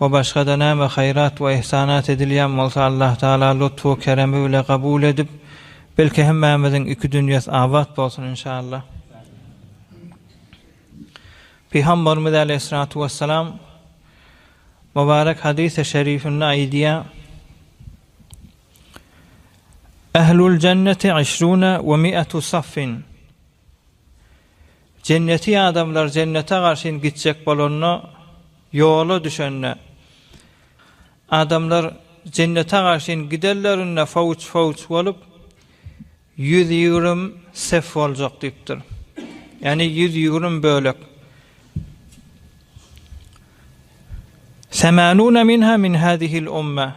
we başga-da näme haýrat we yhsanat edilýän bolsa Allahtagala lutfy we keremi bile kabul edip, belki hemmämiziň iki dünýäs abat bolsun inşallah. Pygambarymyz aleýhissalatu wessalam mubarek hadysy şerifinde aýdýar, Ehluljenneti işrune we miatu saffin. Jenneti adamlar jennete garşyn gitjek bolanda, ýola düşende, adamlar jennete garşyn gidenlerinde fowç-fowç bolup, ýüz ýigrüm sef boljak diýipdir. Ýagny ýüz ýigrüm bölek. Semanuna minha min hazihil umma.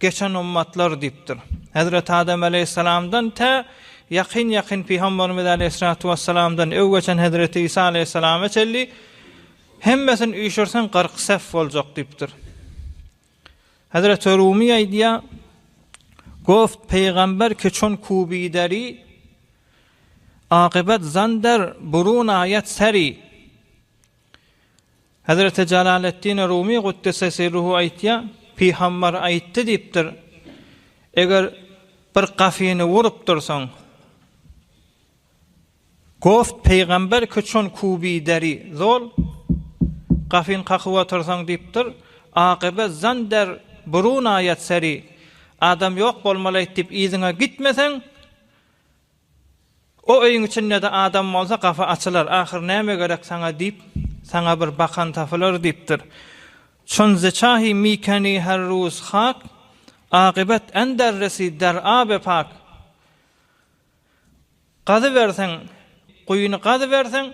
Geçen ummatlar diýipdir. Hezreti Adam aleýhissalamdan tä ýakyn-ýakyn Pygamberimiz aleýhissalatu wessalamdan öw geçen Hezreti Isa aleýhissalama çenli hemmesini üýşürseň kyrk sef boljak diýipdir. Hezreti Rumi aýdýar, Goft Pygamber keçon kubideri akybat zander burun aýat seri Hezreti Jalaleddin Rumy guddise sirruhu aýtýar, Pygambar aýtdy diýipdir, Eger bir gafyny urup dursaň, Goft pygamber ki çon kubi deri zol, Gafyn kakyp otyrsaň diýipdir, Akybe zan der burun aýat seri, Adam ýok bolmalaýt diýip yzyňa gitmeseň, O öýüň içinde-de adam bolsa gapy açylar, ahyr näme gerek saňa diýip, saňa bir bakan tapylar diýipdir. Çunziçahi mikeni her ruz hak, akybat änder resi der abe pak. Gazyberseň, guýyny gazyberseň,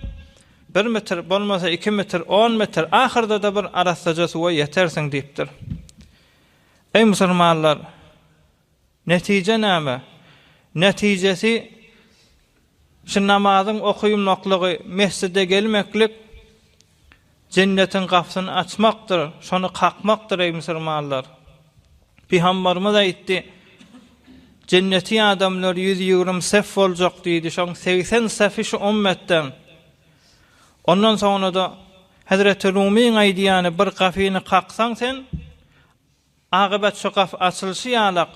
bir metr, bolmasa iki metr, on metr, ahyrda-da bir arassaja suwa ýetersiň diýipdir. Eý musulmanlar! Netije näme? Netijesi şu namazyň okylmaklygy, mesjide gelmeklik Jennetiň gapysyny açmakdyr, şony kakmakdyr, eý musulmanlar! Pygambarymyz aýtdy, Jenneti adamlar ýüz ýigrimi sef boljak diýdi, şoň segsen sefi şu ummetden. Ondan soňra-da Hezreti Rumyň aýdýany bir gapyny kaksaň sen, Akybat şu gaf açylyşy ýalak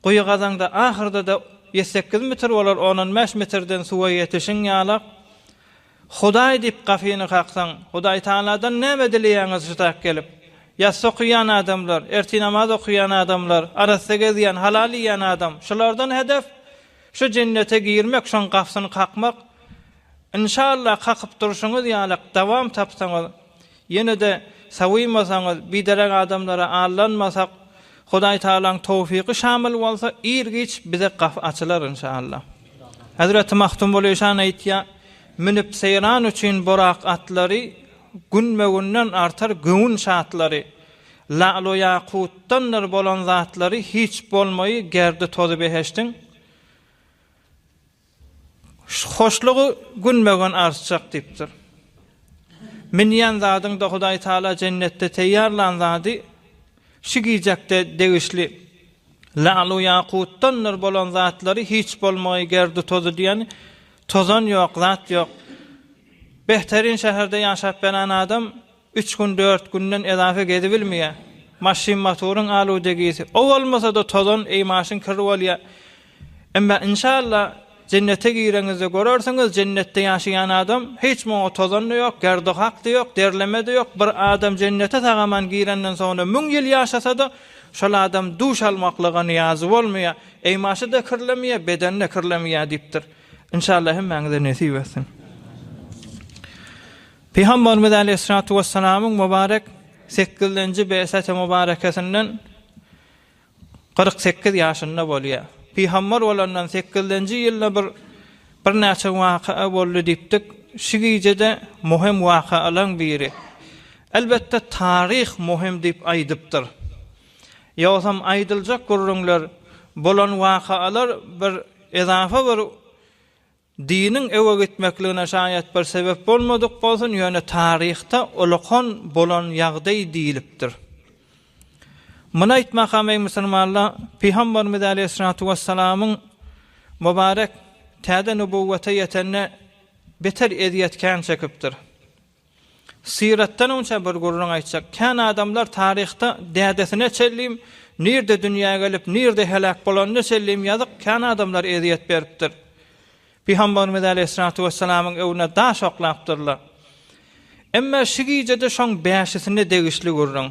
guýy gazaňda ahyrda-da ýüz sekiz mitr bolar on-on bäş mitrden suwa ýetişiň ýalak Hudaý diýip gafyny kaksaň Hudaý Tagaladan näme dileýäňiz şutak gelip ýassy okaýan adamlar ertir namaz okaýan adamlar arassa gezýän halal iýýän adam şulardan hedef şu jennete girmek şoň gafsyny kakmak Inşallah kakyp durşuňyz ýalak dawam tapsaňyz Ýene-de sawynmasaňyz, biderek adamlara aldanmasak, Hudaý Tagalaň towfygy şamyl bolsa, ir-giç bize gapy açylar Inşaallah. Hezreti Magtymguly şan aýtýar, Münüp seýran üçin burak atlary, Günbe-günden artar göwün şatlary. Lalu-ýakutdandyr bolan zatlary Hiç bolmaýy gerdi-tozy behiştiň. Hoşlugy günbagyn artjak diýipdir. Minýän zadyňda Hudaý Taala jennetde teýýarlan zady şu gijekde degişli lalu ýakutdandyr bolan zatlary hiç bolmagy gerdi tozy diýen tozan ýok zat ýok. Behterin şäherde ýaşap beren adam Üç gün dört günden edape gezibilmeyä. Maşyn matoryň aludegisi. O bolmasada tozan eý maşyn kir bolya. Emma inşalla jennete gireňizde görersiňiz jennetde ýaşaýan adam hiç muňa tozanda ýok gerdohakda ýok derlemede ýok bir adam jennete sagaman girenden soňra müň ýyl ýaşasada şol adam duş almaklyga niýazy bolmaya eý maşyda kirlemeyä bedende kirlemeyä diýipdir. Inşalla hemmäňize nesip etsin. Pygamberimiz Aleýhissalatu wessalamyň mübarek sekizlenji beýseti mübarekesinden kyrk sekiz ýaşynda bolýar. Pygamber bolandan sekizlenji ýylda bir birnäçe wakaa boldy diýipdik. Şu gijede möhüm wakaalaň biri. Elbetde taryh möhüm diýip aýdypdyr. Ýogsam aýdyljak gürrüňler, bolan wakaalar bir ezafa bir Diniň öňe gitmekligine şaýat bir sebep bolmadyk bolsun, ýöne taryhda olakan bolan ýagdaý diýlipdir. Muny aýtmakam eý musulmanlar, Pygamberimiz aleýhissalatu wessalamyň mubarek täze nübuwwete ýetende beter ezýet kän çekipdir. Syratdan onça bir gürrüň aýtjak kän adamlar taryhda dädesine çenlin, nirde dünýä gelip, nirde heläk bolanyna çenlin ýazyk kän adamlar ezýet beripdir. Pygamberimiz aleýhissalatu wessalamyň öwüne daş oklapdyrlar. Emma şu gijede şoň bäşisine degişli gürrüň.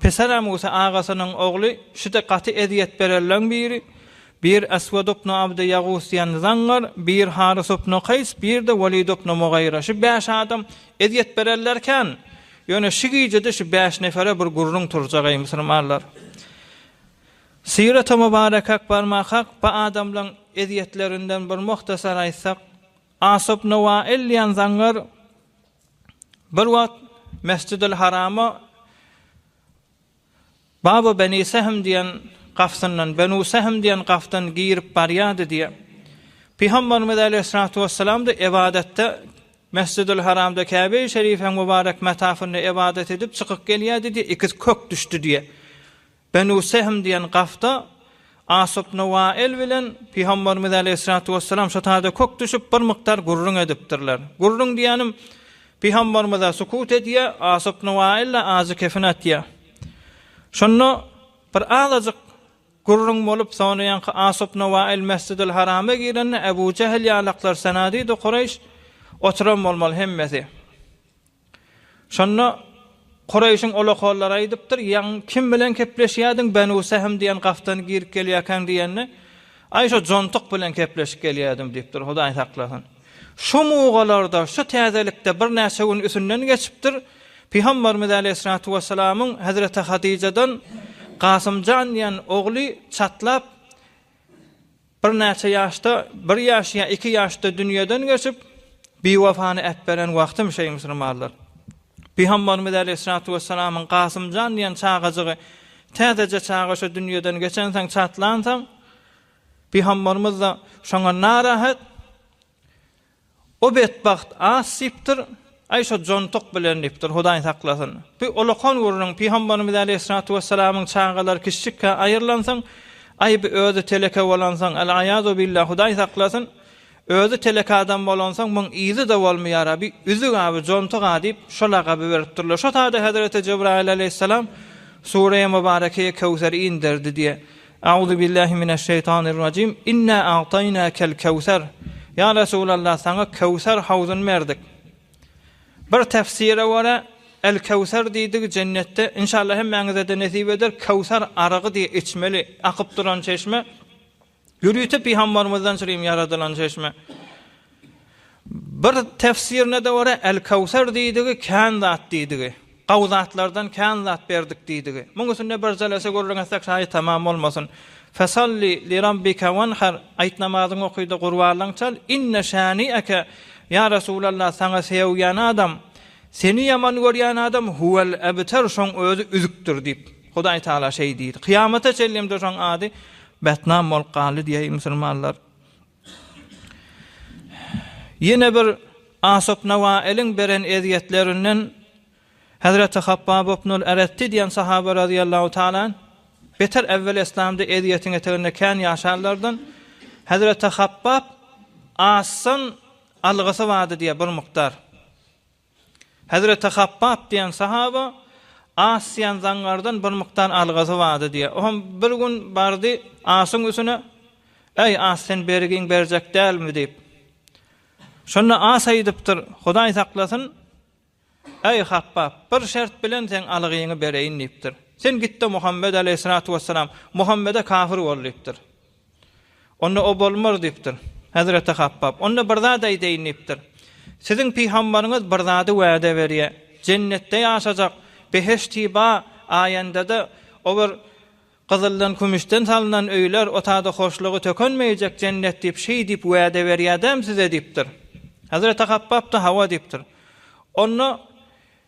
Pisara Musa agasynyň ogly şude gaty ezýet berenleň biri, Bir Aswad ibn Abdy Ýagus diýen zaňňar, bir Harys ibn Kaýs, bir-de Walid ibn Mugyra, şu bäş adam ezýet berenler kän, ýöne şu gijede şu bäş nefere bir gürrüň turjak, eý musulmanlar! Syrata Mubarakak barmak hak, bu adamlaň ezýetlerinden bir muhtasar aýtsak, As ibn Wail diýen zaňňar, Bir wagt Mesjidil Harama Babu Beni Sehm diýen gapsyndan, Benu Sehm diýen gapdan girip barýardy diýe. Pygamberimiz Aleýhissalatu Wessalam-da ybadatda Mesjidil Haramda Käbe-i Şerifiň mübarek metafynda ybadat edip çykyp gelýärdi diýe, ikiz kök düşdi diýe. Benu Sehm diýen gafda Asupnuwaýyl bilen Pygamberimiz aleýhissalatu wessalam şo taýda kök düşüp, bir mukdar gürrüň edipdirler. Gürrüň diýýänim, Pygamberimiz-ä sukut edýär, Asupnuwaýyl-da ajy kefin atýar. Şonda bir azajyk gürrüň bolup, sonraýanky Asupnuwaýyl Mesjidül Harama girende, Ebu Jähl ýalaklar, Senadidu Kureýş oturan bolmaly hemmesi. Şonda Kureýşiň olakollary aýdypdyr, Ýaň, kim bilen kepleşýärdiň, Benu Sähm diýen gafdan girip gelýärkäň diýende, Aý, şo jontuk bilen kepleşip gelýärdim diýipdir, Hudaý saklasyn. Şu mugalarda, şu täzelikde birnäçe gün üsünden geçipdir, Pygamberimiz Aleýhissalatu wessalamyň Hezreti Hadijadan Kasym jan diýen ogly çatlap, Birnäçe ýaşda, bir ýaş ýa iki ýaşda dünýeden geçip, biwefany äpberen wagtym şeý musulmanlar. Pygambarymyz äleyhissalatu wessalamyň Gasymjan diýen çagajygy täzeje çaga şu dünýeden geçensoň çatlansoň, pygambarymyzda şoňa narahat, O betbagt as diýipdir, Aý şo jontuk bilen diýipdir, Hudaý saklasyn. Bu olakan gürrüň Pygamberimiz aleýhissalatu wessalamyň çagalary kiçijikkä aýrylansoň, aý bu özi teleke bolansoň, al-aýazubillah, Hudaý saklasyn, özi teleke adam bolansoň muň yzy-da bolmaýar-a, bu üzük-ä, bu jontuk-a diýip, şo lagaby beripdirler. Şo sada Hezreti Jebraýyl aleýhissalam Sureýi Mubarekeýi Köwseri inderdi diýe. Auzubillahi mineşşeýtanirrajim. Inna a'taýnakel kewser. Ýa Resulallah, saňa Kewser hawzuny berdik. Bir tefsire görä, El Kewser diýdigi jennetde, inşallah hemmäňize-de nesip eder, Kewser aragy diýip içmeli, akyp duran çeşme, ýörite Pygambarymyzdan çyrim ýaradylan çeşme. Bir tefsirine-de görä, Al-Kawser diýdigi, kän zat diýdigi. Gaw zatlardan kän zat berdik diýdigi. Muň üstünde bir jelese gürrüň etsek şaýy tamam bolmasyn. Fesalli lirabbika wanhar, aýt namazyňy oky-da gurbanlygyňy çal, inne şani'eke, ýa Resulallah, saňa seogýän adam, seni ýaman görýän adam huwel ebter, şoň özi üzükdir diýip, Hudaý Taala şeý diýdi. Kyýamata çenlem-de şoň ady betnam bolup galdy diýäý musulmanlar. Ýene bir Asopnawailiň beren ezýetlerinden Hezreti Habbab Ibnul Eretti diýen sahaba razyýallahu taala anh, beter ewwel eslamda ezýetiň eteginde kän ýaşanlardan, Hezreti Habbab Asdan algysy bardy diýýär, bir mukdar. Hezreti Habbap diýen sahaba as diýen zaňňardan bir mukdar algasy bardy diýýär. O hem bir gün bardy asyň üstüne, Äý, as, sen bergiň berjek dälmi? diýip. Şonda as aýdypdyr, Hudaý saklasyn, äý, Habbap, bir şert bilen seň algyňy bereýin diýipdir. Sen git-de Muhammet aleýhissalatu wessalam, Muhammede kafir bol diýipdir. Onda o bolmaz diýipdir. Hezreti Habbap, Onda bir zat aýdaýyn diýipdir. Siziň pygambaryňyz bir zady wäde berýär. Jennetde ýaşajak, behiştiba aýandada o bir gyzyldan, kümüşden salnan öýler, o tada hoşlugy tökenmeýjek jennet diýip, şeý diýip wäde berýädämi size diýipdir. Hezreti Habbap-da hawa diýipdir. Onda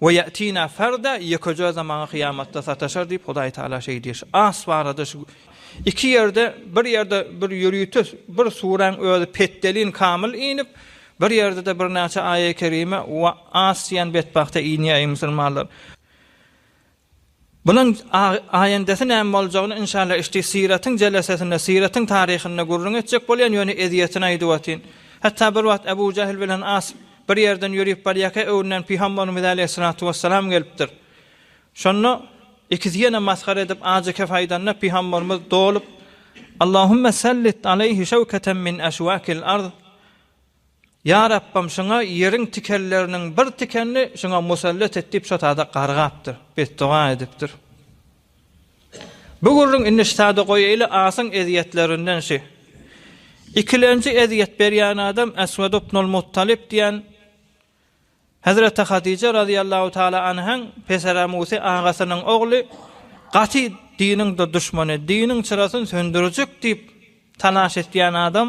We ýe'tina ferda, ýekeje özem maňa kyýamatda sataşar diýip, Hudaý Tagala şeý diýýär. As barada şu iki ýerde, bir ýerde bir ýörite bir suräň özi petdelin kamyl inip, bir ýerde-de birnäçe aýa-kerime we as diýen betbagta inýär, eý musulmanlar! Bunuň aýendesi näme boljagyny inşalla işdi syratyň jelesesinde syratyň taryhynda gürrüň etjek bolýan ýöne ezýetini aýdyp atyn. Hatda bir wagt Abu Jahl bilen As bir ýerden ýörüp barýaka öňünden pyhambarymyz aleýhissalatu wessalam gelipdir. Şonda ikisi ýene masgara edip ajy kef aýdanda pyhambarymyz dolup Allahumma sallit aleýhi şawkatan min aşwakil arz, Ýa Rabbym, şuňa ýeriň tikenleriniň bir tikenini şuňa musallat et diýip, şotada gargapdyr, betdoga edipdir. Bu gürrüň indi ştada goýaýly, Asyň ezýetlerinden şi. Ikilenji ezýet berýän adam Eswed ibnul Muttalyp diýen Hezreti Hadije razyýallahu taala anhaň peseremusy agasynyň ogly, gaty diniň duşmany, diniň çyrasyn söndürjek diýip talaş etýän adam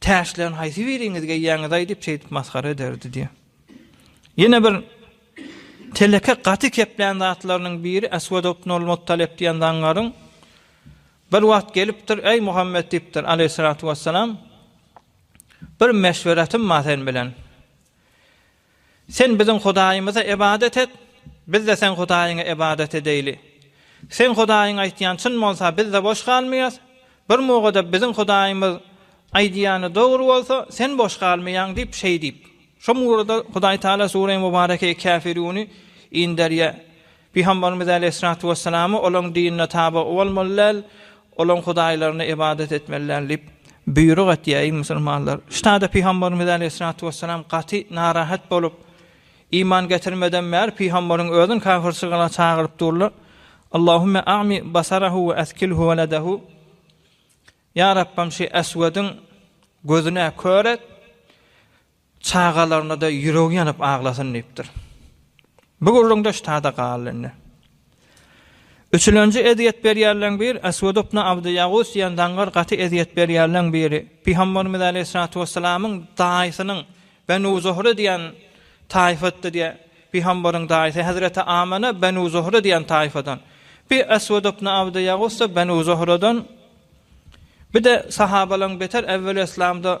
Täşleň haýsy biriňiz geýýäňiz-aý diýip şeýdip masgara ederdi diýýär. Ýene bir teleke gaty keplän zatlarynyň biri Eswed ibn al-Muttalib diýen zangaryň bir wagt gelipdir, Äý Muhammet diýipdir, aleýhissalatu wessalam, bir meşweretim bar sen bilen. Sen biziň Hudaýymyza ybadat et, biz-de seň Hudaýyňa ybadat edeýli. Seň Hudaýyň aýtýany çyn bolsa, biz-de boş galmaýas, bir muga-da biziň Hudaýymyz aýdýany dogry bolsa, sen boş galmaýaň diýip, şeý diýip. Şo mugada Hudaýtagala Sureý Mubareke Käfirüni inderýär. Pygamberimiz aleýhissalatu wessalamy olaryň dinine tabe bolmaly däl, olaryň hudaýlaryna ybadat etmeli däl diýip, buýruk etýär, eý musulmanlar! Ştada pygamberimiz aleýhissalatu wessalam gaty narahat bolup, iman getirmeden bäri pygamberiň özün kafirçylyga çagyryp durlar, Allahümme a'mi basarahu we askilhu weledehu, Ýa Rabbym, şi Eswediň gözüne kör et, Çagalaryna-da ýüregi ýanyp aglasyn diýipdir. Bu gürrüňdeş tada galdy indi. Üçülenji ezýet berýänleň bir, Aswed ibn Abdy Ýagus diýen daňyr gaty ezýet berýänleň biri. Pygamberimiz aleýhissalatu wessalamyň daýysynyň Benu Zuhra diýen taýfatdy diýe, Pygamberiň daýysy hezreti Amana Benu Zuhra diýen taýfadan. Bi Aswed ibn Abdy Ýagus-da Benu Zuhradan. Bir-de sahabalaň beter ewweli yslamda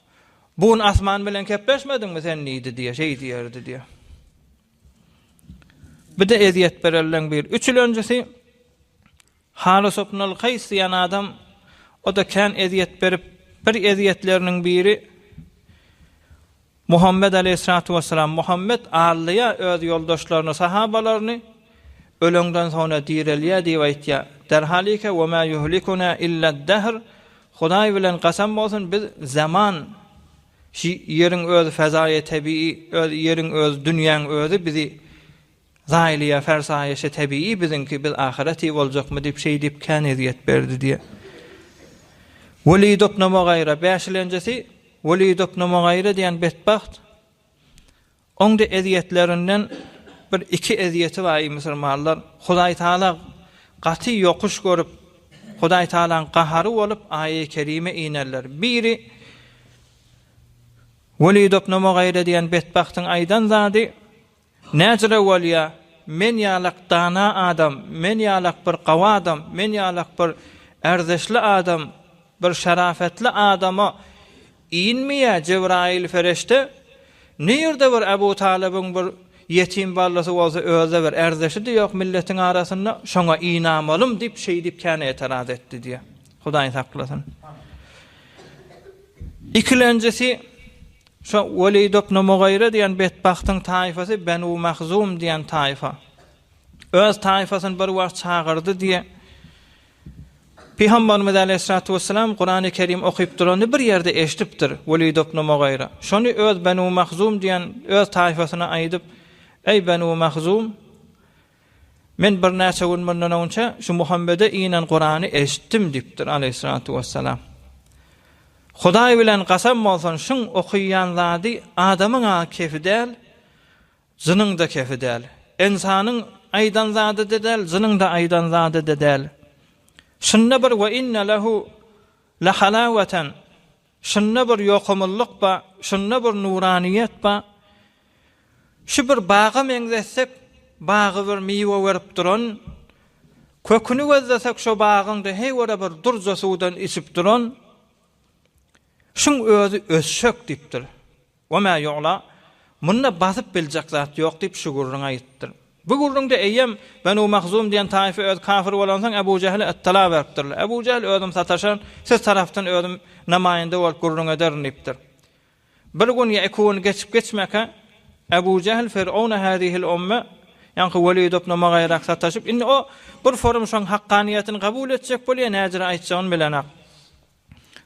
Bu gün asman bilen kepleşmediňmi sen diýdi diýe, şeý diýerdi diýe. Bir de ezýet berelden bir üçülenjisi Halys ibn al-Kays diýen adam o da kän ezýet berip, bir ezýetleriniň biri Muhammed aleyhissalatu vesselam Muhammed allyya öz ýoldaşlaryny, sahabalaryny ölenden sonra direlýär diýip aýtýar. Derhalike we ma yuhlikuna illa dahr Hudaý bilen gasam bolsun biz zaman ş ýeriň özi fazaýa tebigy öz ýeriň özi dünýäň özi bizi zaýlaýa farsaýa şe tebigy biziňki biz ahyreti boljakmy diýip şeýdip kän ezýet berdi diýe. Weli doknama gaýra bäşilenjisi Weli doknama gaýra diýen betbagt Oňda ezýetlerinden bir iki ezýeti bar eý musulmanlar, Hudaý Taala gaty ýokuş görüp, Hudaý Taalaň gahary bolup aýaý kerime inerler. Biri Weli dobnu Mugyra diýen betbagtyň aýdan zady, Näcire bolýa, men ýalak dana adam, men ýalak bir gawy adam, men ýalak bir ärzişli adam, bir şarafetli adama, Inmeýä Jebraýyl Fereşte, Ne ýerde bir Ebu Talybyň bir ýetim ballysy bolsa özde bir ärdeşi-de ýok milletiň arasynda, şoňa ynamalym diýip şeýdip kän etaraz etdi diýýär. Hudaý saklasyn. Ikilenjisi şo Weliýd ibn Mugyra diýen betbagtyň taýfasy Benu Mahzum diýen taýfa. Öz taýfasyny bir wagt çagyrdy diýe Pygamberimiz aleýhissalatu wessalam Kurany Kerim okyp durany bir ýerde eşdipdir, Welid ibn Mugyra. Şony öz Benu Mahzum diýen öz taýfasyna aýdyp, Eý Benu Mahzum! Men birnäçe gün mundan öňçe şu Muhammede inen Kurany eşitdim diýipdir aleýhissalatu wessalam. Hudaý bilen gasam bolsun şuň okyýan zady adamyň-a kefi däl, Jynyň-da kefi däl. Ynsanyň aýdan zady-da däl, jynyň-da aýdan zady-da däl. Şunda bir we inne lehu lahalawatan, şunda bir ýokumlylyk bar, şunda bir nuranyýet bar. Şu bir baga meňzetsek, bagy bir miwe berip duran, köküni gözlesek şo bagyň-da heý görä bir durja suwdan içip duran, şuň özi ösjek diýipdir. We ma ýu'la, Munda basyp biljek zat ýok diýip şu gürrüňi aýytdyr. Bu gürrüňde eýýäm Benu Mahzum diýen taýfa özi kafir bolansoň Ebu Jähle yttala beripdirler. Ebu Jähl özüm sataşan, siz tarapdan özüm namaýynda bolup gürrüň ederin diýipdir. Bir gün ýa iki gün geçip-geçmäkä Ebu Jähl Fir'auna hâzihil umme, ýaňky Welid ibn Mugyrak sataşyp, indi o bir forum şoň hakkaniýetini kabul etjek bolýar, näzire aýtjagyn bilenok.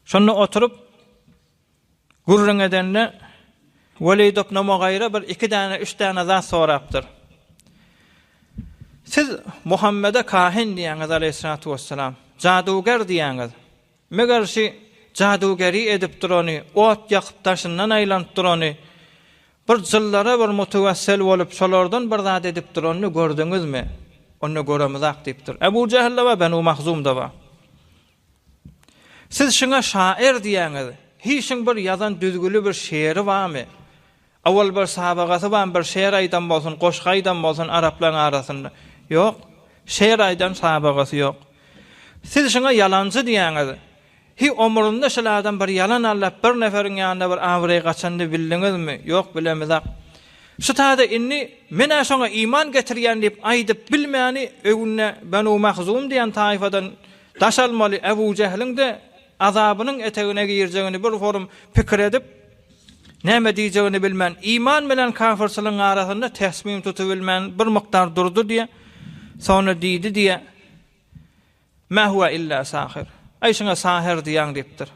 Şonda oturyp. Gürrüň edende, Welidow Nomogaýra bir iki däne, üç däne zat sorapdyr. Siz Muhammede kahin diýýäňiz, aleýhissalatu wessalam, jaduger diýýäňiz. Meger şi jadugeri edip durany, ot ýakyp daşyndan aýlanyp durany, bir jyllara bir mutewessel bolup, şolardan bir zat edip duranyny gördüňizmi? Onda göremizak diýipdir. Ebu Jähilde bar, Benu Mahzumda bar. Siz şuňa şaýyr diýýäňiz. Hiý şuň bir ýazan düzgüli bir şeýeri barmy? Owal bir sabagasy barmy bir şeýer aýdan bolsun, goşgy aýdan bolsun araplaryň arasynda? Ýok. Şeýer aýdan sabagasy ýok. Siz şuňa ýalanjy diýýäňiz. Hiý omrunda şul adam bir ýalan allap bir neferiň ýanynda bir abraýy gaçanyny bildiňizmi? Ýok bilemizak. Şu taýda indi men-ä şoňa iman getirýän diýip aýdyp bilmäni öňünde Benu Mahzum diýen taýfadan Daş almaly Ebu Jähliň-de azabynyň etegine girjegini bir holum pikir edip, näme diýjegini bilmän, iman bilen kafyrçylygyň arasynda täsmim tutubilmän bir mukdar durdy diýe, soňra diýdi diýe, Mä huwa illa sahir. Aý şuňa sahyr diýäň diýipdir.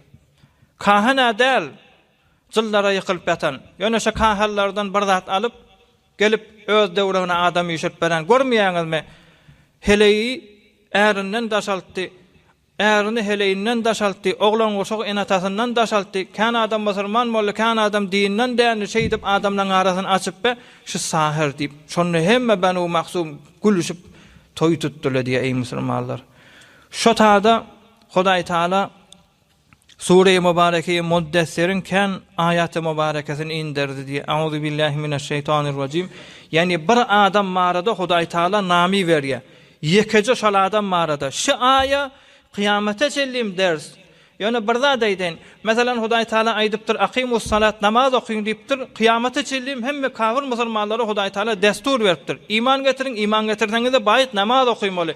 Kahan-a däl, jyllara ýykylyp ýatan. Ýöne şu kahanlardan bir zat alyp, Gelip, öz döwregine adam üýşürip beren, görmeýäňizmi? Heleýi ärinden daşaltdy, ärini heleýinden daşaltdy, oglan-guşagy ene-atasyndan daşaltdy, kän adam musulman boldy, kän adam dinden dändi, şeýdip, adamlaryň arasyny açyp be, şu sahyr diýip, şonda hemme Benu Mahzum gülüşip, toý tutdylar diýýär, eý musulmanlar! Şo tada Hudaýtagala Sure-i Mubareke-i Muddessiriň kän aýaty mubarekesini inderdi diýýär. Auzubillahi mineşşeýtanirrajim. Ýagny bir adam barada Hudaý Taala name berýär. Ýekeje şol adam barada. Şu aýa kyýamata çenlim ders. Ýöne bir zat aýdaýyn. Meselem Hudaý Taala aýdypdyr, Akimussalat, namaz okyň diýipdir. Kyýamata çenlim hemme kafir musulmanlara Hudaý Taala dessur beripdir. Iman getiriň, iman getirseňizde baýt namaz okymaly.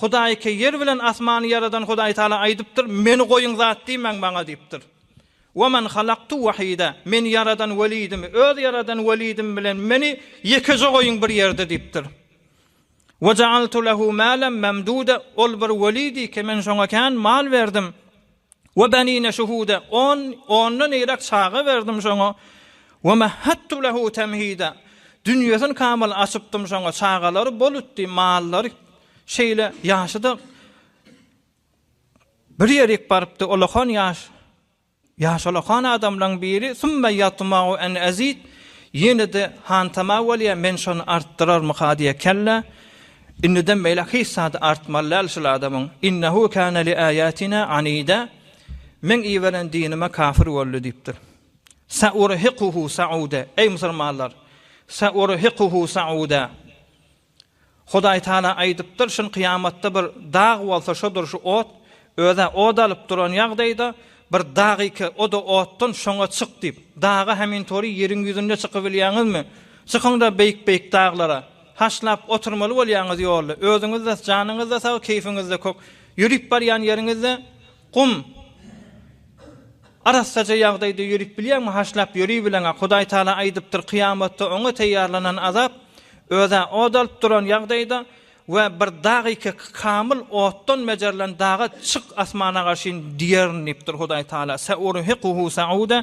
Hudaýyka ýer bilen asmany ýaradan Hudaý Tagala aýdypdyr, Meni goýuň zat diýmäň maňa diýipdir. Wa man halaktu wahida, Men ýaradan welidimi, öz ýaradan welidim bilen meni ýekeje goýuň bir ýerde diýipdir. Wa ja'altu lehu malan mamduda, Ol bir weli diýki, men şoňa kän mal berdim. We benine şuhuda, on, ondan nirek çaga berdim şoňa, we mehattu lehu temhida, dünýesini kamyl açypdym şoňa, çagalary bol utdy, mallary şeýle ýaşyda bir ýerik barypdy, olakan ýaş, ýaş olakan adamlaň biri, summa ýatmau en ezid, ýene-de hantama bolýa, men şony artdyrarmyka diýä, kellä, Indiden beýläk hiç zady artmaly däl şul adamyň. Innehu kana li ayatina anida Meň iberen dinime kafir boldy diýipdir. Saurhiquhu sauda Eý musulmanlar, saurhiquhu sauda Hudaý Taala aýdypdyr, şun kyýamatda bir dag bolsa şodur şu ot, özä od alyp duran ýagdaýda bir dag ike o-da otdan şoňa çyk diýip. Daga hemintori ýeriň ýüzünde çykybilýäňizmi? Çykyň-da beýik-beýik daglara. Haşlap oturmaly bolýaňyz ýolda. Özüňiz-de, janyňyz-da sag, keýfiňiz-de kök. Ýörüp barýan ýeriňizde gum, arassaja ýagdaýda ýörüp bilýäňmi? Haşlap ýöribileň-ä. Hudaý Tagala aýdypdyr, Kyýamatda oňa teýýarlanan azap, öz-ä od alyp duran ýagdaýda we bir dag ekek kamyl otdan bejerilen daga çyk asmana garşyn diýerin diýipdir Hudaý Tagala, Sa'urhiquhu sa'uda,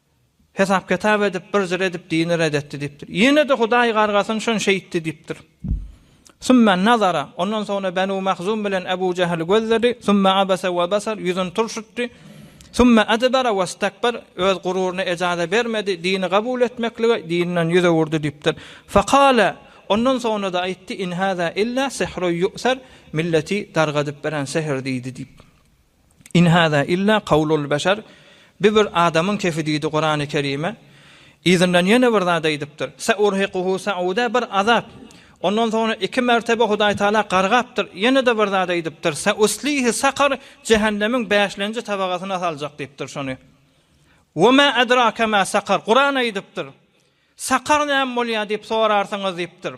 Hesap-kitap edip, bir jyr edip, dini red etdi diýipdir. Ýene-de Hudaý gargasyn, şon şeýtdi diýipdir. Summa nazara, ondan soňra Benu Mahzum bilen Ebu Jehli gözledi, summa abasa we basar, ýüzüni turşutdy, summa edbara we stekber, öz gururyna ejaza bermedi, dini gabul etmeklige, dinden ýüz öwürdi diýipdir. Fekale, ondan soňra-da aýtdy, in haza illa sihru ýu'ser, milleti dargadyp beren sihir diýdi diýip. In hada illa kawlul beşer, bi bir adamyň kefi diýdi Kurany Kerime. Yzyndan ýene bir zat aýdypdyr, Seurhikuhu seuda bir azap. Ondan soňra iki mertebe Hudaý Taala gargapdyr, ýene-de bir zat aýdypdyr, Seuslihi sakar jähennemiň bäşlenji tabagasyna saljak diýipdir şony. We ma edrake ma sakar Kuran aýdypdyr, Sakar näme bolýar diýip sorarsyňyz diýipdir.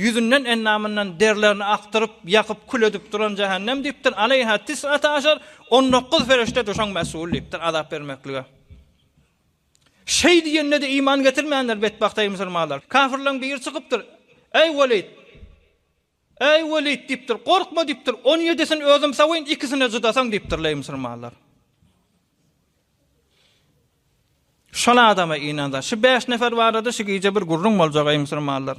Ýüzünden, endamyndan derlerini akdyryp, ýakyp, kül edip duran jähennem diýipdir, Aleýha tis'ata aşar, on dokuz perişdedir, şoň mes'ul diýipdir, azap bermeklige. Şeý diýende-de iman getirmändir betbagt, eý, musulmanlar! Kafirleň biri çykypdyr, Eý, Welid! Eý, Welid! diýipdir, Gorkma diýipdir, on ýedisini özüm sawyň, ikisini-de jydasaň diýipdir, eý, musulmanlar! Şol adama ynansa. Şu bäş nefer barada şu gije bir gürrüň boljak, eý musulmanlar.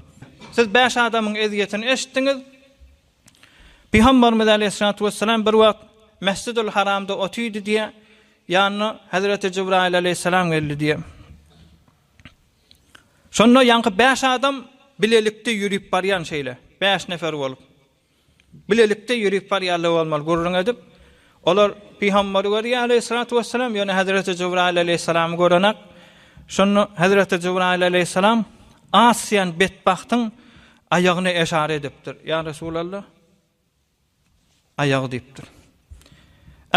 Siz bäş adamyň ezýetini eşitdiňiz. Pygamberimiz aleýhissalatu wessalam bir wagt Mesjidül Haramda otydy diýe, ýanyna Hazreti Jibraýyl aleýhissalam geldi diýe. Şonda ýaňky bäş adam bilelikde ýörüp barýan şeýle, bäş nefer bolup. Bilelikde ýörüp barýarlar bolmaly gürrüň edip, olar pygamberi görýär aleýhissalatu wessalam, ýöne hezreti Jybraýyl aleýhissalamy görenak. Şonda hezreti Jybraýyl aleýhissalam asýan betbagtyň aýagyna eşara edipdir. Ýa Resulalla, aýagy diýipdir.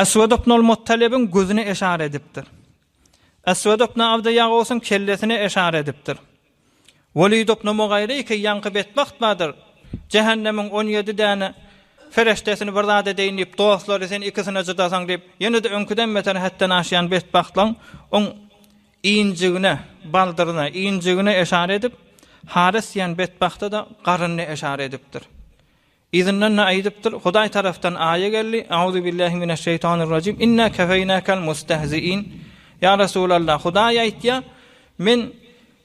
Eswed ibn al-Muttalibiň gözüne eşara edipdir. Eswed ibn Abdy Ýagawsyň kellesine eşara edipdir. Welidow noma gaýry iki ýaňky betbagt bardyr. Jähennemiň on ýedi däne fereşdesini bir zat edeýin diýip, dostlary sen ikisine jydasaň diýip, ýene-de öňküden beter hetden aşýan betbagtlaň oň injigine, baldyryna, injigine eşara edip, haras diýen betbagta-da garynyna eşara edipdir. Yzyndan-da aýdypdyr, Hudaý tarapdan aýa geldi, Auzubillahi mineşşeýtanirrajim, Inna kefeýnäkel mustehziin, Ýa Resulallah, Hudaý aýtýar, Men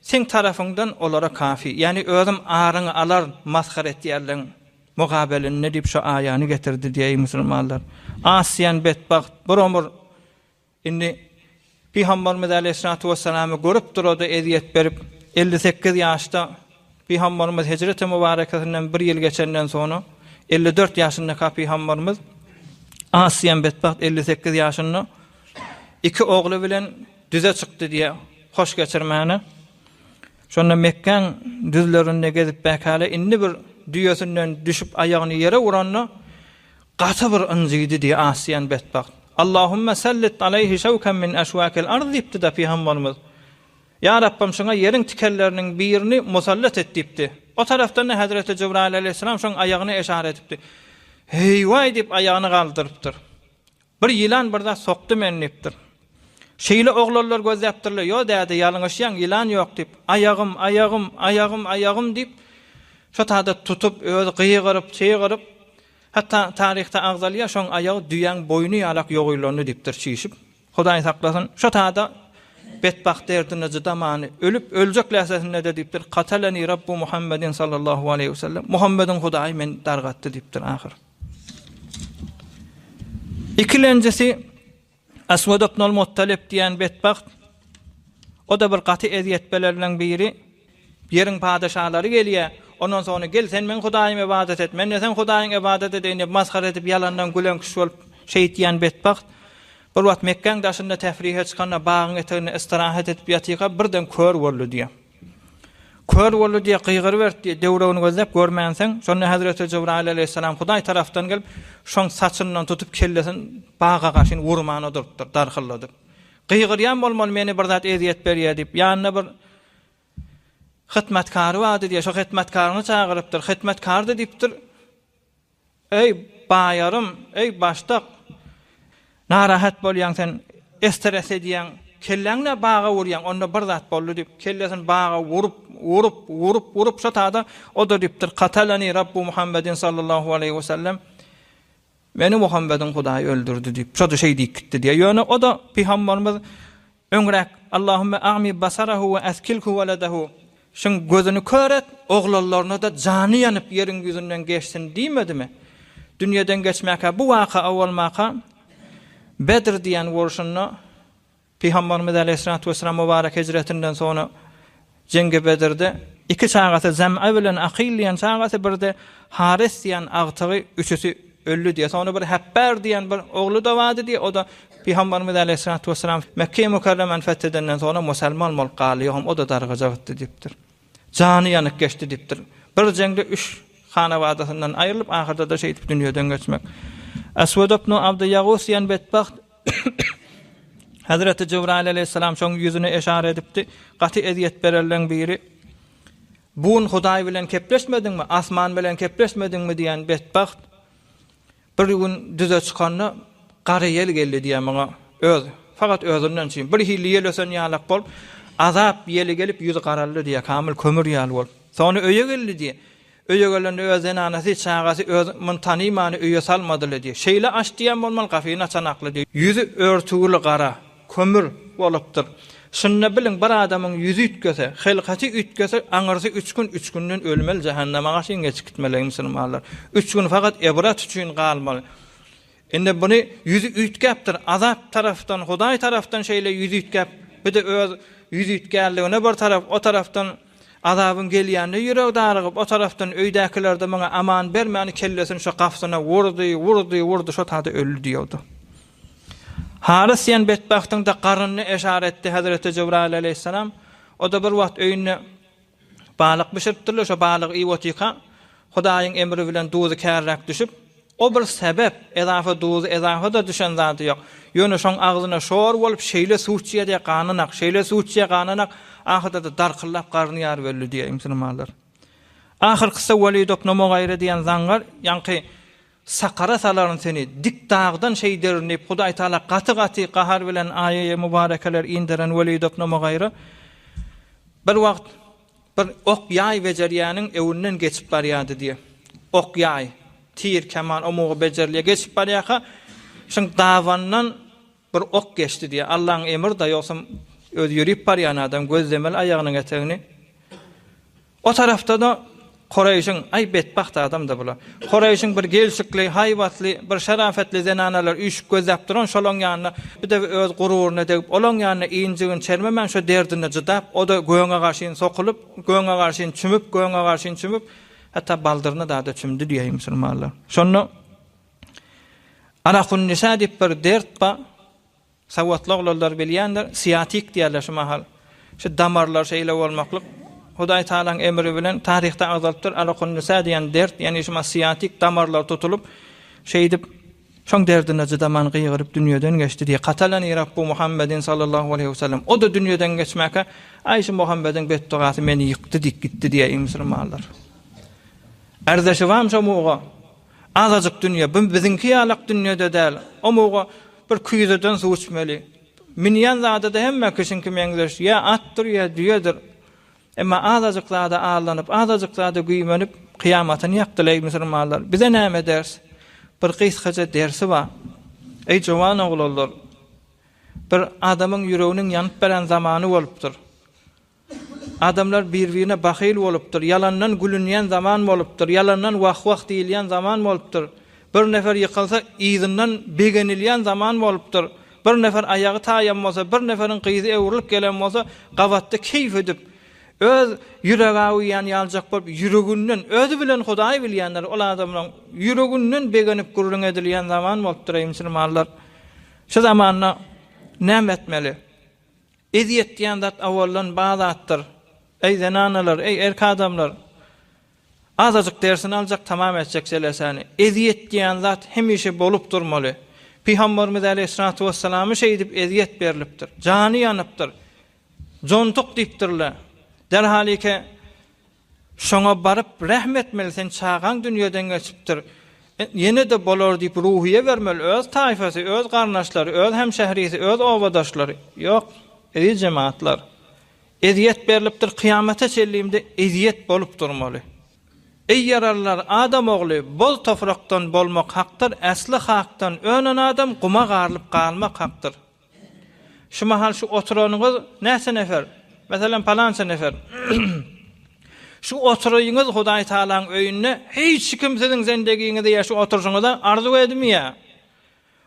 Seň tarapyňdan olara kafi, ýagny Özüm aryňy alaryn, masgara etýänleriň mugabelinde diýip şu aýany getirdi diýeýin musulmanlar. Asýan betbagt bir omur. Indi Pygamberimiz aleýhissalatu wessalamy görüp durada ezýet berip, elli sekiz ýaşda Pygamberimiz hijreti mübarekesinden bir ýyl geçenden soňra elli dört ýaşyndaka Pygamberimiz Asiyem betbagt elli sekiz ýaşynda iki ogly bilen düze çykdy diýýär. Hoş geçirmäne. Şonda Mekkäň düzlerinde gezip bäkäle indi bir düýesinden düşüp aýagyny ýere uranda Gaty bir ynjydy diýýär as diýen betbagt. Allahümme sellit aleyhi şewken min eşwakil arz diýipdi-de pygamberimiz. Ýa Rabbym şuňa ýeriň tikenleriniň birini musallat et diýipdi. O tarapdan-da hezreti Jibraýyl aleýhissalam şoň aýagyna eşara edipdi. Heý-waý diýip aýagyny galdyrypdyr. Bir ýylan bir zat sokdy meni diýipdir. Şeýle oglanlar gözläpdirler. Ýo däde ýalňyşýaň ýylan ýok diýip. Aýagym, aýagym, aýagym, aýagym diýip şo taýda tutup özi gygyryp, çygyryp Hatda taryhda agzalýar, şoň aýagy düýäň boýny ýalak ýogylandy diýipdir çişip. Hudaý saklasyn, şo tada betbagt derdine cydamany, ölüp, öljek lähzesinde-de diýipdir, Kataleni Rabbu Muhammedin sallallahu aleýhi we sellem, Muhammediň Hudaýy meni dargatdy diýipdir ahyr. Ikilenjisi. Aswad ibnul Muttalib diýen betbagt, o-da bir gaty ezýetpelerinden biri, Ýeriň padeşalary gelýär, ondan soňra gel sen meň hudaýyma ybadat et, men-de seň hudaýyňa ybadat edeýin diýip masgara edip ýalandan güleňkiş bolup şeýit diýen betbagt, bir wagt Mekgäň daşynda tefrihe çykanda bagyň eteginde istirahat edip ýatyka birden kör boldy diýýär. Kör boldy diýe gygyrybert diýe döwregini gözläp görmänsiň, şonda Hezreti Jybraýyl aleýhissalam Hudaý tarapdan gelip, şoň saçyndan tutup kellesin baga gaşyn wurman odurypdyr, darhylladyp. Gygyrýan bolmaly meni bir zat ezýet berýär diýip, ýanynda bir hytmatkary bardy diýe, şo hytmatkaryny çagyrypdyr, hytmatkary-da diýipdir, Eý, baýarym, eý, başdak! Narahat bolýaň sen, esteres edýäň, kelläňni-ä baga urýaň, onda bir zat boldy diýip, kellesini baga urup, urup, urup, urup, şo tada o-da diýipdir, Kataleni Rabbu Muhammedin sallallahu aleýhi we sellem, Meni Muhammediň Hudaýy öldürdi diýip, şo-da şeý diýip gitdi diýýär. Ýöne o-da pygamberimiz Öňräk, Allahümme a'mi basarahu we askilhu weledehu, Şuň gözüni kör et, oglanlaryna-da jany ýanyp ýeriň ýüzünden geçsin diýmedimi? Dünýeden geçmäkä bu waka-a bolmaka, Bedr diýen urşunda Pygamberimiz äleyhyssalatu wesselam mübarek hijretinden soňra Jeňge Bedirde iki çagasy Zem'a bilen Akyl diýen çagasy birde Haris diýen agtygy üçüsi öldi diýe soňra bir Hepbär diýen bir ogly dowady diýe oda Pygambarymyz Aleýhissalatu Wessalam Mekkeýi Mukarremany feth edenden soňra musalman bolup galdy ýogam oda dargaja gytdy diýipdir. Jany ýanyk geçdi diýipdir. Bir jeňde üç hanabadasyndan aýrylyp ahyrdada şeýdip dünýeden geçmek. Aswad ibn Abdy Ýagus diýen betbagt Hezreti Jybraýyl aleýhissalam şoň ýüzüne eşara edipdi, Gaty ezýet bererleň biri, Bun Hudaý bilen kepleşmediňmi, asman bilen kepleşmediňmi diýen betbagt bir gün düze çykanda gara ýel geldi diýýär muňa öz, fakat özünden çyn, bir hilli ýel ösen ýalak bolup, azap ýeli gelip ýüzi garaldy diýýär, kamyl kömür ýaly bolup. Soňra öýe geldi diýýär. Öýe gelende öz zenanasy, çagasy öz muny tanymany öýe salmadyly diýýär. Şeýle aç diýen bolmaly, gapyny açan akly diýýär. Ýüzi örtügili gara, kömür, bolupdyr. Şunda biliň, bir adamyň ýüzi üýtgese, hylkaty üýtgese, aňyrsy üç gün, üç günden ölmeli, jahannama garşy gecikitmeligi musulmanlar. Üç gün fakat ebrat üçin galmaly. Indi buny ýüzi üýtgäpdir, Azat tarapdan, Hudaý tarapdan şeýle ýüz üýtgäp, bir-de öz ýüz üýtgänligine bir tarap, o tarapdan Azabyň gelýänine ýüregi darygyp, o tarapdan öýdäkiler-de muňa aman bermän, kellesini şo gapysyna wurdy, wurdy, wurdy, şo taýda öldi diýewdi. Harys diýen betbagtyň-da garnyny eşar etdi Hezreti Jebraýyl aleýhissalam. O-da bir wagt öýünde Balyk bişiripdirler, şo balygy iýip otyrka, Hudaýyň emri bilen duzy kärräk düşüp, O bir sebäp, edafa duzy, edafa-da düşen zady ýok. Ýöne şoň agzyna şor bolup, şeýle suwçýa-de gananak, şeýle suwçýa gananak, ahyrda-da darkyllap garny ýaryp öldi, diýýär Ibn Sina Malar. Ahyrkysy Welidob Nomogaýry diýen zaňňar, ýaňky Sakara salaryn seni, dik dagdan şeý derin diýip, Hudaý Taala gaty-gaty gahar bilen aýaýy mubarekeler inderen weli doknama gaýra, Bir wagt bir ok ýaý bejerýäniň öwünden geçip barýardy diýe. Ok ýaý, tir, keman, omugy bejerlýä geçip barýaka, şuň dabandan Bir ok geçdi diýýär. Allaň emrida ýogsam özi ýörip barýan adam gözlemeli aýagynyň etegini. O tarapda-da Koreýşiň, aý betbagt adam-da bula. Koreýşiň bir gelşikli, haýbatly, bir şarafatly zenanalar üýşüp gözläp duran şolaň ýanyna bir dek öz gururyna degip olaň ýanyna injigini çermemän şo derdine cydap o-da göňe garşyn sokulyp, göňe garşyn çümüp, göňe garşyn çümüp, hatda baldyryna-da-da çümdi diýýär musulmanlar. Şonda Anahunnisa diýip bir dert bar. Sowatly oglanlar bilýändir. Siatik diýýärler şu mahal. Şu damarlar şeýle bolmaklyk. Hudaý Tagalaň emri bilen taryhda agzalypdyr. Anahunnisa diýen dert, ýagny şuma siatik damarlar tutulyp, şeýdip, şoň derdine cydaman gygyryp dünýeden geçdi diýip. Katalany Rabbu Muhammedin sallallahu aleýhi we sellem. O-da dünýeden geçmäkä, Aý şu Muhammediň betdugasy meni ýykdy diýip gitdi diýýär iň musulmanlar. Arzaşybam şo muga. Azajyk dünýe, bu biziňki ýalak dünýede däl. Omuga bir küýzeden suw içmeli. Münýän zady-da hemme kişiňki meňzeş, ýa atdyr, ýa düýedir. Emma azajyk zada aldanyp, azajyk zada güýmenip, kyýamatyny ýakdylar, eý, musulmanlar! Bize näme ders? Bir gysgaça dersi bar. Eý, jowan oglanlar! Bir adamyň ýüreginiň ýanyp beren zamany bolupdyr. Adamlar bir-birine bahyl bolupdyr, ýalandan gülünýän zaman bolupdyr, ýalandan wah-wah diýilýän zaman bolupdyr. Bir nefer ýykylsa, yzyndan begenilýän zaman bolupdyr. Bir nefer aýagy taýan bolsa, bir neferiň gyzy öwrülip gelen bolsa, gabatda keýp edip, öz ýüregäüýýäni ýaljak bolup, ýüreginden, özi bilen Hudaý bilýändir, ol adamlaryň ýüreginden begenip gürrüň edilýän zaman bolupdyr, eý, musulmanlar! Şu zamanda näme etmeli? Ezýetdýän zat awaldan ba zatdyr. Eý zenanalar, eý erk adamlar! Azajyk dersini aljak, tamam etjek jelesäni. Ezýetdýän zat hemişe bolup durmaly. Pygamberimiz aleýhissalatu wessalamy şeýdip ezýet berlipdir. Jany ýanypdyr. Jontuk diýipdirle. Derhalike Şoňa baryp rehm etmeli sen çagaň dünýeden geçipdir ýenede bolar diýip ruhyýe bermeli öz taýfasy öz garyndaşlary öz hemşehrisi öz obadaşlary ýok eziz jematlar ezýet berlipdir kyýamata çellimde ezýet bolup durmaly eý ýaralylar adam ogly bol tofrakdan bolmak hakdyr äsli hakdan önen adam guma garylyp galmak hakdyr. Şu mahal şu oturanyňyz näçe nefer? Meselem, palança nefer. Şu oturyňyz Hudaý Tagalaň öýünde hiç kim siziň zendegiňizi ýa şu oturyşyňyzy arzuw edmeýär.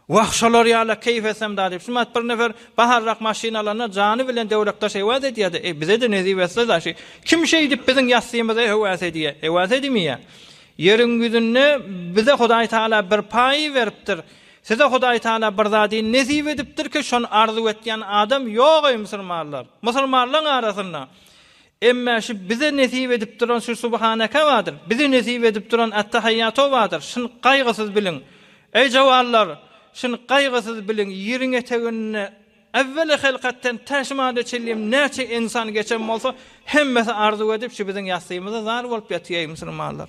Wah, şolar ýala keýp etsem-da diýip, şumat bir nefer baharyrak maşyn alanda jany bilen döwlekdaş hewas edýär-de, eý, bize-de nesip etse-da, şi, kim şeýdip biziň ýassymyza hewas edýär, hewas edmeýär. Ýeriň ýüzünde bize Hudaý Tagala bir paý beripdir. Size Hudaý Tagala bir zady nesip edipdirki, şony arzuw etýän adam ýok, eý musulmanlar! Musulmanlaryň arasynda, Emme şu bize nesip edip duran şu Subhaneke badyr, bize nesip edip duran Ettehaýýatu badyr, şuny gaýgysyz biliň! Eý jawanlar! Şuny gaýgysyz biliň, ýeriň eteginde Ewweli Hylkatdan tä şu mada çenlem näçe ensan geçen bolsa, hemmesi arzuw edip şu biziň ýassymyza zar bolup ýatyr, eý musulmanlar!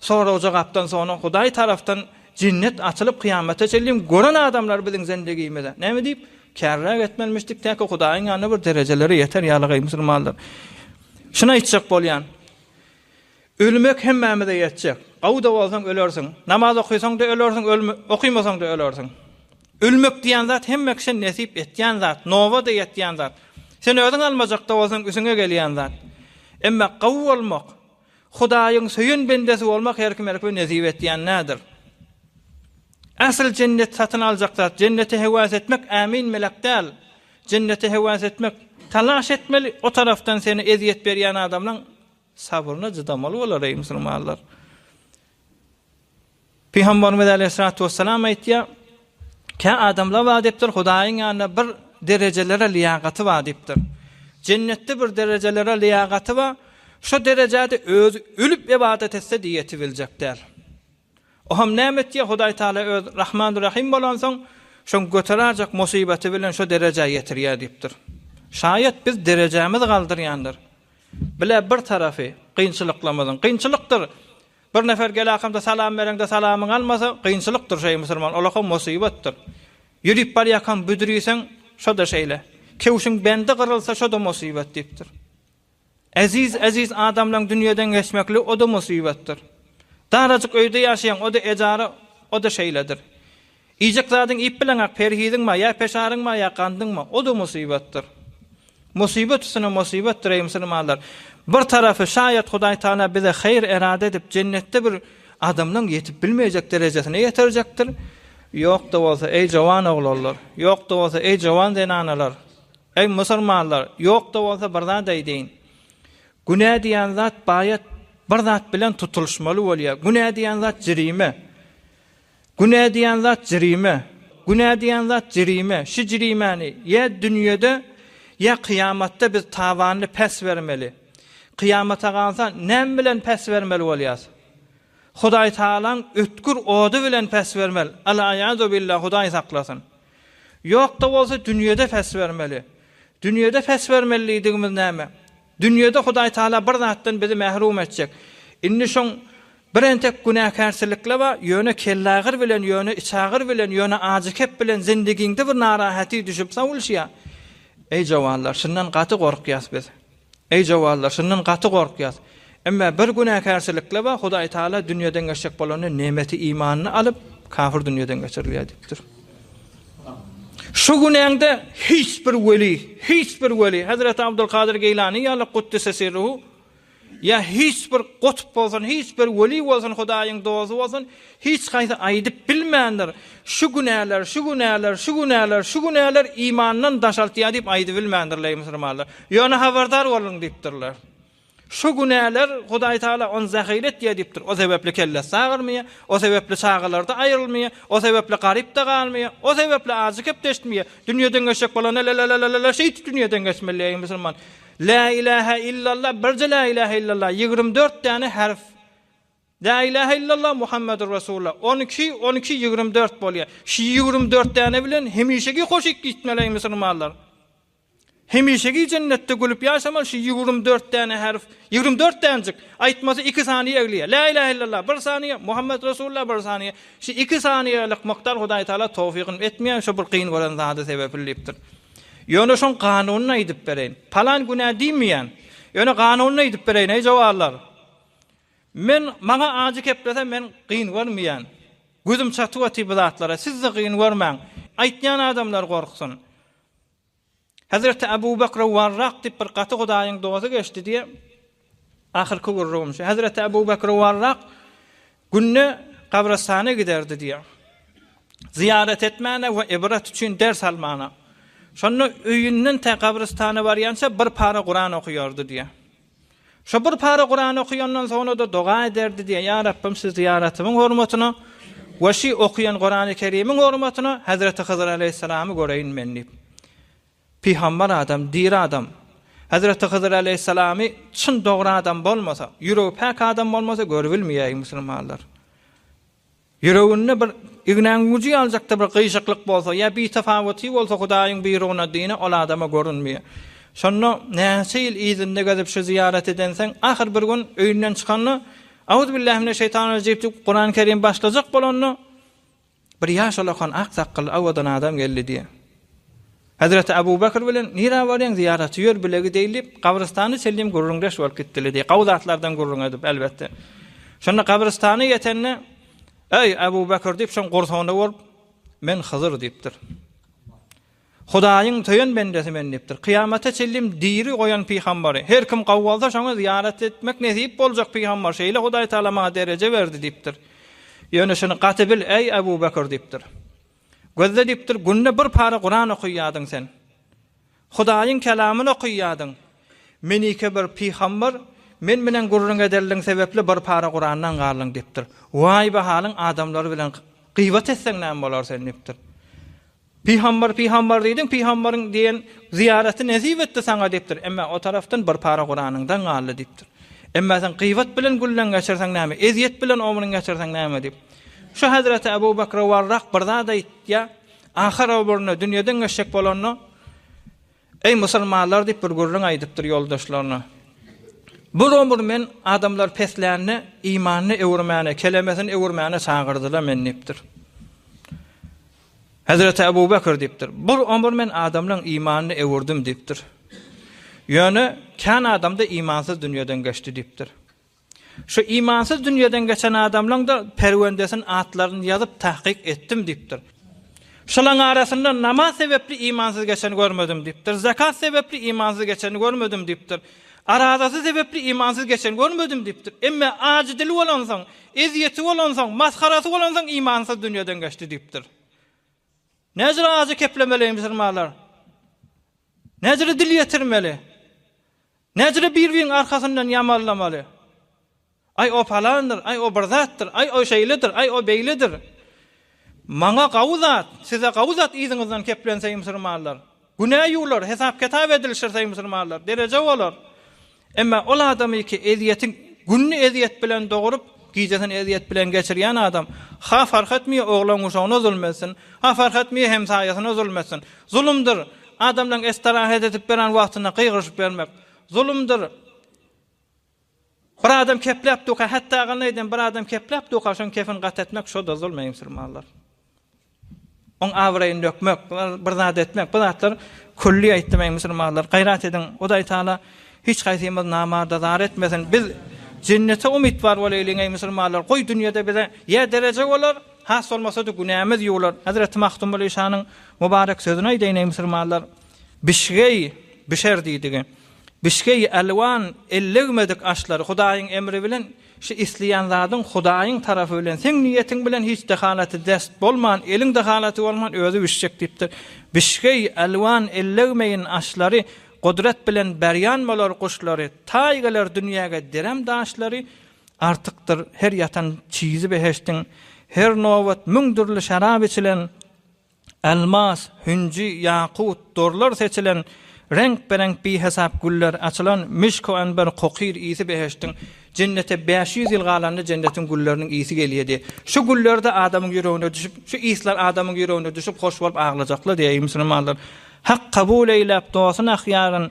Soragja gapdan soňra Hudaý tarapdan jennet açylyp kyýamata çenli gören adamlar biziň zendigimize näme diýip kärräk etmelimişdik täki Hudaýyň ýanynda bir derejelere ýeter ýalygy musulmanlar şuny aýtjak bolýan ölmek hemmämize ýetjek gawuda bolsaň ölersiň namaz okysaňda ölersiň okymasaňda ölersiň ölmek diýen zat hemme kişä nesip etýän zat nobada ýetýän zat sen özüň almajakda bolsaň üsüňe gelýän zat emma gawy bolmak Hudaýyň söýen bendesi bolmak her kime erk we nesip etýän nädir? Asyl jennet satyn aljak zat, jennete hewas etmek ämin melek däl. Jennete hewas etmek, talaş etmeli, o tarapdan seni ezýet berýän adamlaň sabryna cydamaly bolar eý musulmanlar. Pygamberimiz aleýhissalatu wesselam aýtýar, Kä adamlar bar diýipdir, Hudaýyň ýanynda bir derejelere lyýagaty bar diýipdir. Jennetde bir derejelere lyýagaty bar, şo derejäde özi ölüp ybadat etse de ýetip biljek däl. O hem näme etýär, Hudaý Taala öz Rahman Rahym bolansoň, şoň göterärjek musybaty bilen şo derejä ýetirýär diýipdir. Şaýat biz derejämizi galdyrýandyr. Bile bir tarapy, kynçylyklarymyzyň, kynçylykdyr, Bir nefer gelakamda salam bereňde salamyňy almasa gynçylykdyr şeý musulman olaka mosybatdyr. Ýürip barýakam büdriseň şoda şeýle. Kewşiň bendi gyrylsa şoda mosybat diýipdir. Eziz eziz adamlaň dünýeden geçmekli oda mosybatdyr. Darajyk öýde ýaşaýaň oda ejara oda şeýledir. Iýjek zadyňy iýip bileňok, perhiziňma, ýa peşaryňma, ýa gandyňma, o-da musybatdyr. Musybat üstüne musybatdyr, eý, musulmanlar! Bir tarapy, şaýat Hudaý Tagala bize haýyr erada edip, jennetde bir adamlaň ýetip bilmeýjek derejesine ýetirjekdir, ýok-da bolsa, eý, jowan oglanlar, ýok-da bolsa, eý, jowan zenanalar, eý, musulmanlar, ýok-da bolsa, bir zat aýdaýyn, günä diýen zat baýat bir zat bilen tutulyşmaly bolýar, günä diýen zat jrime. Günä diýen zat jrime. Günä diýen zat jrime. Şu jrimäni ýa dünýede, ýa kyýamatda biz tabanyny päs bermeli. Kyýamata galsa näme bilen päs bermeli bolýas? Hudaý Tagalaň ötgür ody bilen päs bermeli, alaýazubillah Hudaý saklasyn. Ýok-da bolsa dünýede päs bermeli. Dünýede päs bermeli diýdigimiz näme? Dünýede Hudaý Taala bir zatdan bizi mährum etjek. Indi şoň bir entek günäkärçilikle bar, ýöne kellagyr bilen, ýöne içagyr bilen, ýöne ajykep bilen zindigiňde bir narahaty düşüp sowulşýar. Eý jowallar, şundan gaty gorkýas biz. Eý jowallar, şundan gaty gorkýas. Emme bir günäkärçilikle bar, Hudaý Taala dünýeden geçjek bolanda nemeti imanyny alyp, kafir dünýeden geçirilýär diýipdir. Şu günäňde hiç bir weli, hiç bir weli, Hezreti Abdulkadyr Geýlany ýaly Guddise sirruhu, ýa hiç bir gutp bolsun, hiç bir weli bolsun, Hudaýyň dosty bolsun, hiç haýsy aýdyp bilmändir, Şu günäler, şu günäler, şu günäler, şu günäler imandan daşaltýar diýip aýdybilmändir, leý musulmanlar. Ýöne habardar boluň diýipdirler. Şu günäler Hudaý Taala ony jahil etýär diýipdir. O sebäpli kellesi agyrmaýar, o sebäpli çagalardy aýrylmaýar, o sebäpli garypda galmaýar, o sebäpli ajy kepdeştmeýär. Dünýeden geçjek bolanda la-la-la-la-la-la şeýti dünýeden geçmeli eý musulman. Lä ilähä illallah birje lä ilähä illallah ýigrimi dört däne harf. Lä ilähä illallah Muhammedur Resulullah on iki on iki ýigrimi dört bolýar. Şu ýigrimi dört däne bilen hemişeki hoşik diýtmeli eý musulmanlar. Hemişeki jennetde gülüp ýaşamaly şu ýigrim dört däne herf, ýigrim dört dänjik, aýtmasy iki saniýe egliýär. Lä ilähe illallah bir saniýe, Muhammet Resulullah bir saniýe. Şu iki saniýelik mukdar Hudaý Taala towfygyn etmeýär, şo bir kyn gören zady sebepli diýipdir. Ýöne şoň kanunyny aýdyp bereýin. Palan günä diýmeýän. Ýöne kanunyny aýdyp bereýin eý jowarlar. Men maňa ajy keplese men kyn görmeýän. Gözüm çatyp otyr bu zatlara. Siz-de kyn görmäň. Aýtýan adamlar gorksun. Hezreti Abu Bakra Warrak diýip bir gaty Hudaýyň dosty geçdi diýe. Ahyrky gürrügim şu. Hezreti Abu Bakra Warrak günde gabrystana giderdi diýe. Zyýarat etmäne we ibrat üçin ders almana. Şonda öýünden tä gabrystana barýança bir para Kuran okaýardy diýe. Şo bir para Kuran okayandan soňra-da doga ederdi diýen, Ýa Rabbym şu zyýaratymyň hormatyna we şi okaýan Kurany Kerimiň hormatyna Hezreti Hydyr aleýhissalamy göreýin men diýip. Pygambar adam, diri adam. Hezreti Hydyr aleýhissalamy çyn dogry adam bolmasa, ýüregi päk adam bolmasa görübilmeýäý musulmanlar. Ýüreginde bir ignäň güji ýalyjakda bir gyýşyklyk bolsa, ýa bitafawyty bolsa Hudaýyň buýrugna dine ol adama görünmeýär. Şonda näçe ýyl yzynda gezip şu zyýarat edenseň, ahyr bir gün öýünden çykanda, Auzubillahiminesheytanirejip diýip Kurany Kerim başlajak bolanda, bir ýaş alakan ak sakgally awadan adam geldi diýýär. Hezreti Abu Bekr bilen nirä barýaň zyýaraty ýör bile gideýli diýip gabrystana çenlem gürrüňdeş bolup gitdiler diýip gowy zatlardan gürrüň edip elbetde. Şonda gabrystana ýetende Eý Abu Bekr diýip şoň gursagyna urup Men Hydyr diýipdir. Hudaýyň söýen bendesi men diýipdir. Kyýamata çenlem diri goýan pygambary. Her kim gowy bolsa şoňa zyýarat etmek nesip boljak pygambar. Şeýle Hudaý Taala maňa dereje berdi diýipdir. Ýöne şuny gaty bil eý Abu Bekr diýipdir. Gözle diýip dur, günde bir para Kuran okaýadyň sen. Hudaýyň kelamyny okaýadyň. Menike bir pygambar, men bilen gürrüň ederligiň sebäpli bir para Kurandan galdyň diýip dur. Waý bu halyň adamlar bilen gybat etseň näme bolar sen diýip dur. Pygambar pygambar diýdiň, pygambaryň diýen zyýaraty nesip etdi saňa diýip dur. Emma o tarapdan bir para Kuranyňdan galdy diýip dur. Emma sen gybat bilen gülleň geçirseň näme, ezýet bilen omrun geçirseň näme diýip. Şu Hazreti Abu Bakra Warrak bir zat aýtýar, ahyr ömründe dünýeden geçjek bolanda, Eý musulmanlar diýip bir gürrüň aýdypdyr ýoldaşlaryna. Bu ömür men adamlar peslände imanyny öwürmäne, kelemesini öwürmäne çagyrdylar men diýipdir. Hazreti Abu Bakr diýipdir. Bu ömür men adamlaryň imanyny öwürdim diýipdir. Ýöne kan adamda imansyz dünýeden geçdi diýipdir. Şu imansyz dünýeden geçen adamlaň-da perwendesin atlaryny ýazyp tahkyk etdim diýipdir. Şolaň arasynda namaz sebepli imansyz geçeni görmedim diýipdir. Zekat sebepli imansyz geçeni görmedim diýipdir. Arazasy sebepli imansyz geçeni görmedim diýipdir. Emme ajy dili bolansoň, ezýeti bolansoň, masgarasy bolansoň imansyz dünýeden geçdi diýipdir. Näcire ajy keplemeli musulmanlar? Näcire dil ýetirmeli? Näçe-de bir-biriň arkasyndan ýamalamaly. Aý, o palandyr, aý, o bir zatdyr, aý, o şeýledir, aý, o beýledir. Maňa gawy zat, size gawy zat yzyňyzdan keplenseý musulmanlar. Günä ýuwlar, hesap-ketap edilişirseý musulmanlar, dereje bolar. Emma ol adamy ki ezýetiň gününi ezýet bilen doguryp, gijesini ezýet bilen geçirýän adam, ha fark etmeýär oglan-guşagyna zulm etsin, ha fark etmeýär hemsaýasyna zulm etsin. Zulumdyr. Adamlaryň estarahat edip beren wagtynda gygyryşyp bermek, zulumdyr. Bir adam kepläp duka, hatda agany aýdan bir adam kepläp duka, şoň kefini gat etmek, şo-da zulum eý musulmanlar. Oň abraýyny dökmek, bir zat etmek, bu zatlar külli aýtdym eý musulmanlar, gaýrat ediň, Hudaý Taala hiç haýsymyzy namarda zar etmesin, biz jennete umytwar bolaýlyň eý musulmanlar, goý dünýede bize ýa dereje bolar, Has bolmasa-da günämiz ýuwlar. Hezreti Magtymguly şanyň mubarek sözüni aýdaýyn, eý musulmanlar! Bişgeý, bişer diýdigi. Bişgeý, elwan, elligmedik aşlar, Hudaýyň emri bilen, şu isleýän zadyň Hudaýyň tarapy bilen, seň niýetiň bilen hiç dehalaty dest bolman, eliň dehalaty bolman özi bişjek diýipdir. Bişgeý, elwan, elligmeýin aşlary, Gudrat bilen berýan bolar guşlary, Taý geler dünýäge direm daşlary, Artykdyr her ýatan çizi behiştiň, Her nobat müň dürli şerap içilen, Elmas, hünji, ýakut, dorlar seçilen, Reňkbereňk bihesap güller açylan, Mişku anber kokyr ysy behiştiň. Jennete bäş ýüz ýyl galanda jennetiň gülleriniň ysy gelýär diýip, şu güller-de adamyň ýüregine düşüp, şu yslar adamyň ýüregine düşüp hoş bolup aglajaklar diýýär. Eý musulmanlar! Hak kabul eýläp dostun ahyýaryn,